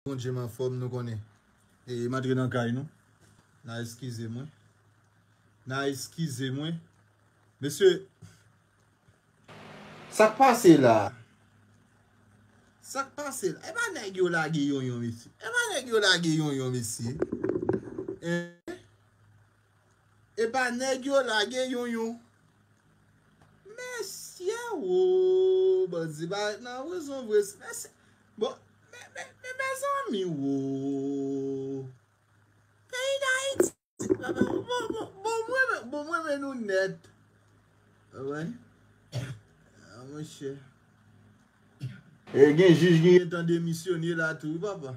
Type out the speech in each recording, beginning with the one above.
Bondye m anfòm nou konnen e m antre nan kay nou na eskize mwen na eskize mwen mesye. Sak pase la? Sak pase la? Epa nèg yo lage yonyon mesye epa nèg yo lage yonyon mesye eh. Epa neg yo lage yon yon. Mesye ooh bandi pa ret nan prizon vre mesye bon men mezanmi ooh peyi dayiti bon m renmen nou net ah monche gen jij ki gentan demisyone la tou wi papa.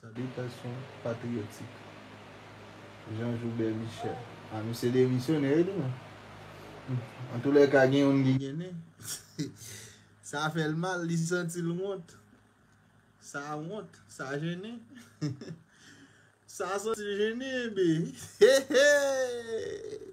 Salitasyon patriyotik Jean Joubert Michel A misye demisyone wi tou men Antoulèka gen youn ki gen nen Sa fè l mal li santi l wont Sa wont Sa jennen Sa santi l jennen Hee Hee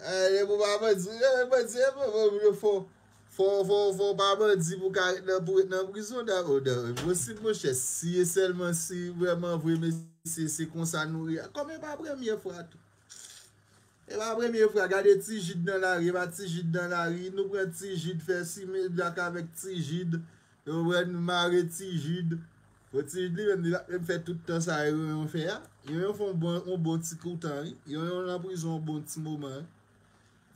Eeh pou pa bandi eeh bandi eeh fò fò pa bandi pou ka ret nan pou ret nan prizon oh dat enposib monchè si e sèlman si vrèman vre mesye se konsa nou ye a kòm e pa premye fwa tou e pa premye fwa gade ti jid nan lari e pa ti jid nan lari nou pran ti jid fè simen blak avèk ti jid nou pran mare ti jid. Bon Timid li menm li pat menm fè tout tan sa Yonyon fè a, Yonyon fè yon bon ti kou tan wi, Yonyon nan prizon yon bon ti moman wi,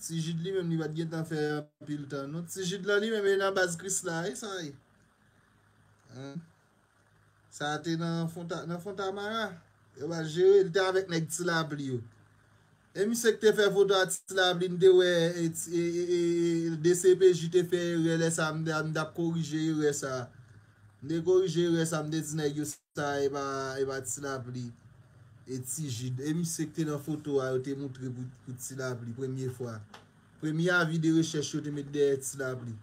Tijid li menm li pat gentan fè anpil tan non, Tijid lan li menm e nan baz Krisla wi sa ye Humm sa te nan fontamara yo pa jere li te avèk nèg ti lapli yo. E misye ki te fè foto atis la vle n te wè dcpj te fè erè lè sa m tap korije erè sa m te korije erè sa m te di nèg yo sa epa ti lapli e ti jid e misye ki te nan foto a yo te moutre pou ti lapli premye fwa premye avi de rechèch yo te met dèyè ti lapli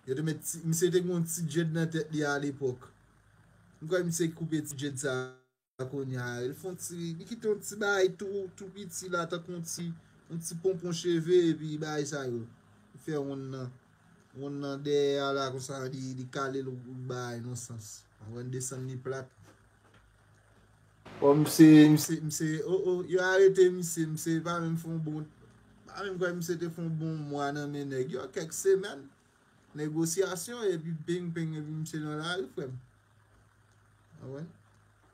yo te met misye te gen yon ti djed nan tèt li a alepòk m kwè misye ki koupe ti djed sa. Kounye a, li fè yon ti, li kite yon ti bagay tou, tou piti la, tankou yon ti, yon ti ponpon cheve, epi bagay sa yo, li fè wonn nan, wonn nan dèyè a la konsa, li kale l yon bagay nan sans. Ou wè, li desann li plat. Kòm se, misye, misye, o, o, yo arete misye, misye pa menm fè yon bon, m pa menm kwè misye te fè yon bon mwa nan men nèg yo, kèk semèn. Negosyasyon epi ping ping epi misye nan lari frem anmwey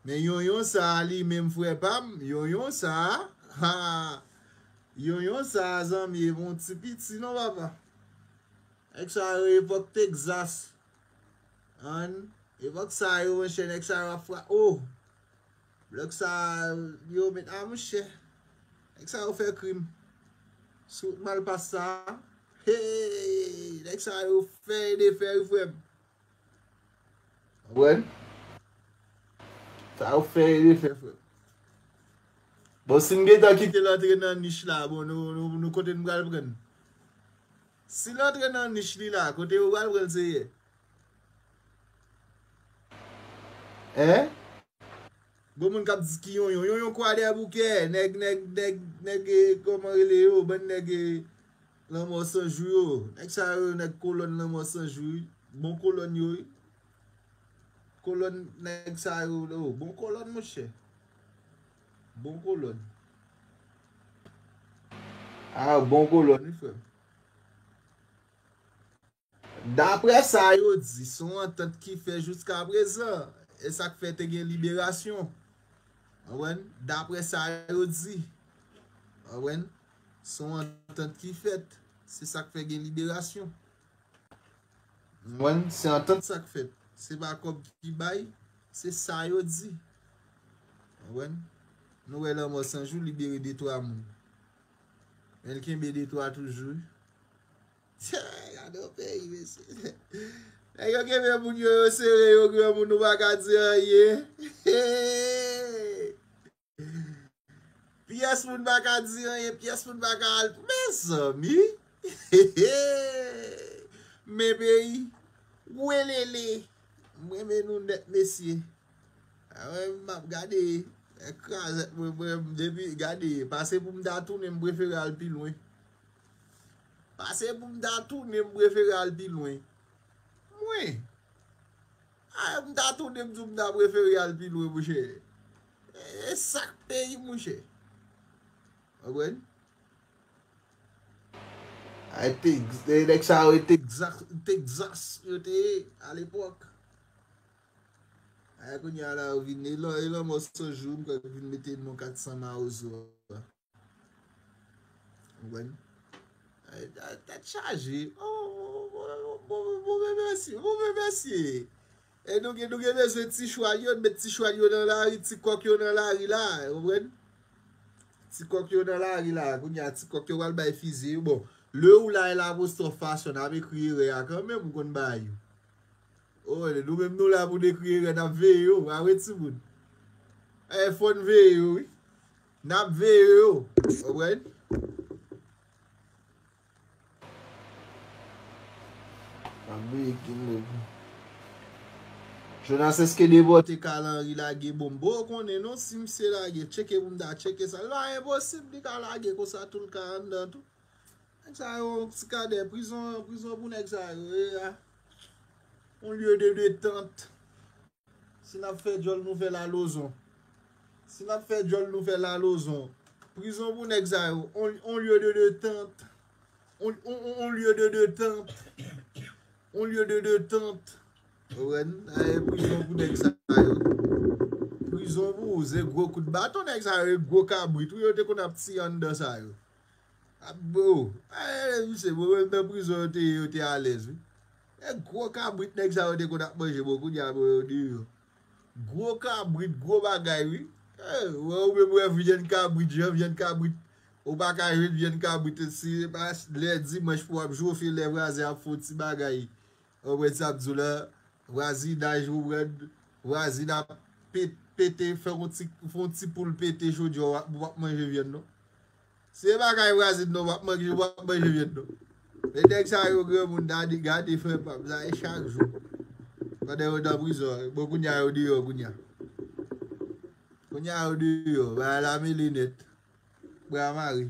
men yonyon sa li menm fre pam yonyon sa haa yonyon sa zanmi e bon ti piti non papa nèg sa yo epok texas ann epok sa yo monche nèg sa yo ap fra ooh. Blòd sa yo met a monchè. Nèg sa yo fè krim. Sou wout malpas sa. Heyy. Nèg sa yo fè e defè wi frè m. Konprann? Sa yo fè e defè frè m. Bon si n gentan kite l antre nan nich la bon nou kote n pral pran l. Si l antre nan nich li la kote yo pral pran l seyè. Hein? Bon moun kap di ki yonyon, yonyon kwa dèyè boukè, nèg nèg nèg nèg e kòman rele yo, bann nèg e lanmò san jou yo, nèg sa yo nèg kolòn lanmò san jou wi, bon kolòn yo wi, kolòn nèg sa yo o, bon kolòn monchè, bon kolòn, a bon kolòn wi frèm. Daprè sa yo di, son antant ki fè jouska prezan, e sak fè te gen liberasyon. Konprann? Daprè sa yo di. Konprann? Son antant ki fèt, se sak fè gen liberasyon. Konprann? Se antant sak fèt. Se pa kòb ki bay, se sa yo di. Konprann? Nou wè lanmò sanjou libere de twa moun. Men l kenbe de twa toujou. Gadon peyi mesye. Nèg yo kenbe moun yo yo sere yo granmoun nou pa ka di anyen. Pyès moun pa ka di anyen, pyès moun pa ka al. Mezanmi! Men peyi. Welele! M renmen nou nèt mesye. A wè m ap gade krazèt mwen m depi gade pase pou m ta tounen m prefere al pi lwen. Pase pou m ta tounen m prefere al pi lwen. Mwen? A m ta tounen m di w m ta prefere al pi lwen mouche. E sak peyi mouche. Konprann? Ay Tex, e nèg sa yo e Texas, Texas yo te ye a lepòk. Ay kounya la yo vin e lanmò sanjou m kwè vin mete non 400 mawozo a. Mwen tèt chaje. Mwen mèsi. Mwen mèsi. E nou gen nou gen bezwen ti chwal yo. Met ti chwal yo nan lari. Ti kòk yo nan lari la. Mwen. Ti kòk yo nan lari la. Koun ya ti kòk yo wal bay fizi. Bon. Le ou la e la pou stò fasyo. N ap ekri e re a kan men. Mwen konn bay. Ou e. Nou men nou la pou dekri e re. N ap veye ou. A we ti moun. E fòn veye ou. Nap veye yo alright. Nap veye king baby. Jonas eske Debò te ka al Henry lage bonm bro ou konnen non si misye lage tcheke pou m ta tcheke sa li pa enposib li ka lage konsa tou l ka anndan tou nèg sa yo ti kadè prizon prizon pou nèg sa yo ye a on lye de detente. Si nap fè djòl nou fèl a lozon Si nap fè djòl nou fèl a lozon Prizon pou nèg sa yo On lieu de detente On lieu de detente On lieu de detente Owen Aye prizon pou nèg sa yo Prizon pou ou se gwo kout baton nèg sa yo e gwo kabrit wi yo te konn ap tiye anndan sa yo Abbo! Ayy misye bon menm nan prizon yo te ye yo te alèz wi. E gwo kabrit nèg sa yo te konn ap manje bon kounya bon yo deyò. Gwo kabrit gwo bagay wi. Wè ou menm wè vyann kabrit jan vyann kabrit ou pa ka jwenn vyann kabrit si se pa lè dimanch pou wap jwofe lè vwazen ap fon ti bagay. Ou wè sa bzou la vwazinaj wouwèn vwazin ap pete fè yon ti fon ti poul pete chodyè w ap wap manje vyann non se pa kay vwazin non wap manje wap manje vyann non men nèg sa yo granmoun dadi gade frè pam sa e chak jou pandan yo nan prizon an bon kounya yo deyò kounya kounya yo deyò bagay la mele nèt bra mare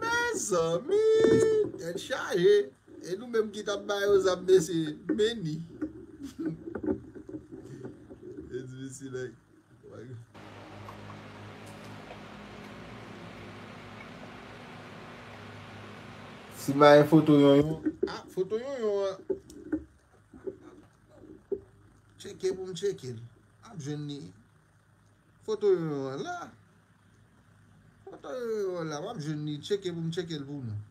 Mezanmi tèt chaje e nou menm ki tap ba yo zam mesye meni. Si ma yon foto yon yon. Ah, foto yon yon an. Cheke pou m cheke l. Ap jwenn ni. Foto yoyo an la. Foto yoyo an la. Wap jwenn li. Tcheke pou m tcheke l pou nou.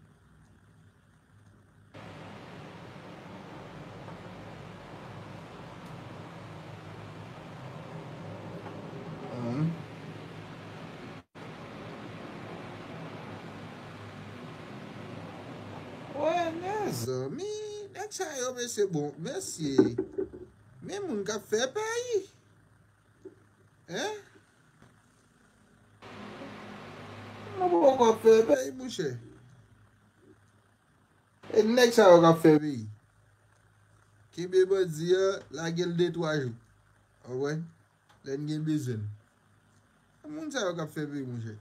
Mezanmi. Nèg sa yo mesye bon. Mesye. Men moun kap fè peyi. Hein? Mwen pa wè kò ap fè peyi mouche. E nèg sa yo kap fè peyi. Kenbe bandi an, lagel 2 3 jou. Ou wè? Lèn gen bezwen l. E moun sa yo kap fè peyi mouche.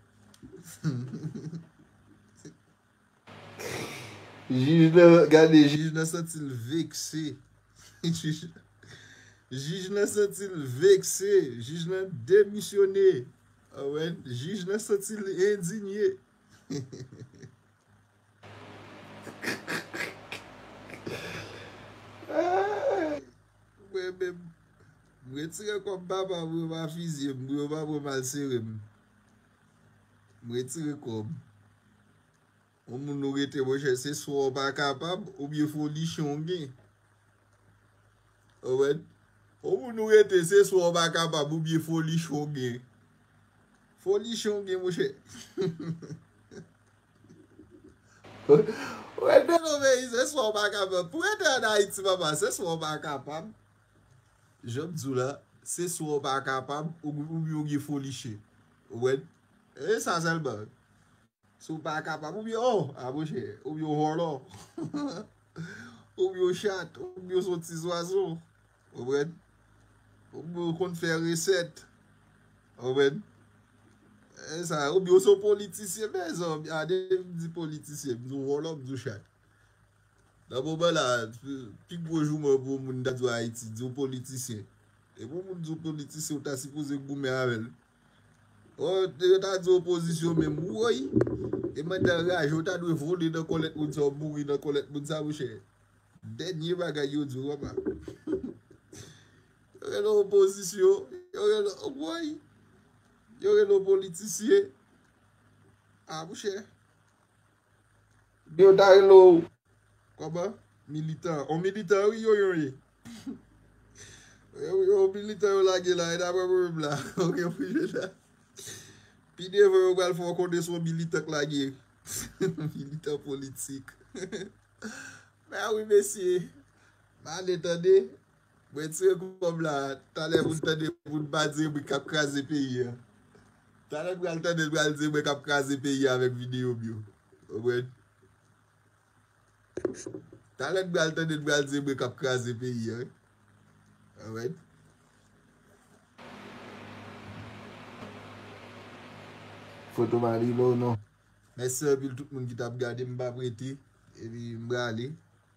Jij nan gade jij nan santi l vekse jij nan santi l vekse jij nan demisyone jij nan santi l endinye mwen menm m retire kòm papa m pou yo pa fizye m pou yo pa pran mal sere m. M retire kòm. Yon moun ou rete monchè se swa ou pa kapab ou byen folichon ou gen. Ou wè? Yon moun ou rete se swa ou pa kapab ou byen folichon ou gen. Folichon ou gen monchè. Ou rete nan peyi se swa ou pa kapab. Pou rete an Ayiti papa se swa ou pa kapab. Janm diw la, se swa ou pa kapab oubyen ou gen foli chen. Ou wèl? E sa sèlman. Si ou pa kapab oubyen oh a monchè, oubyen ou vòlò. Oubyen ou chat, oubyen ou son ti zwazo. Ou wèl? Oubyen ou konn fè resèt. Ou wèl? E sa, oubyen ou son politisyen mèzanmi. A depi m di politisyen, m di ou vòlò, m di ou chat. Nan moman la, pi gwo jouman pou yon moun ta di w Ayiti, di w politisyen. E pou yon moun di w politisyen, ou ta sipoze goumen avè l. Ò, yo ta di w opozisyon menm, woy! E mwen ta anraje, ou ta dwe vole nan kòlèt moun sa, ou mouri nan kòlèt moun sa, monchè. Dènye bagay yo di w, wè pa. Yo rele w opozisyon, yo rele w, woy! Yo rele w politisyen. A, monchè. Yo ta rele w kòman? Militan. On militan wi yo yon ye. Yon militan yo lage la e daprè mwen menm la. Ou gen pou jwenn la. Pi devan yo pral fè w konnen se yon militan k lage. Militan politik. Mè wi mesye. M ale tande. Mwen tire kòb la talè pou n tande pou n pa dire mwen kap kraze peyi a talè m pral tande l pral dire mwen kap kraze peyi a avèk video m yo konprann talè n pral tande l pral dire mwen kap kraze peyi a konprann. Foto pa rive w non. Mèsi anpil tout moun ki tap gade m pap rete epi m prale.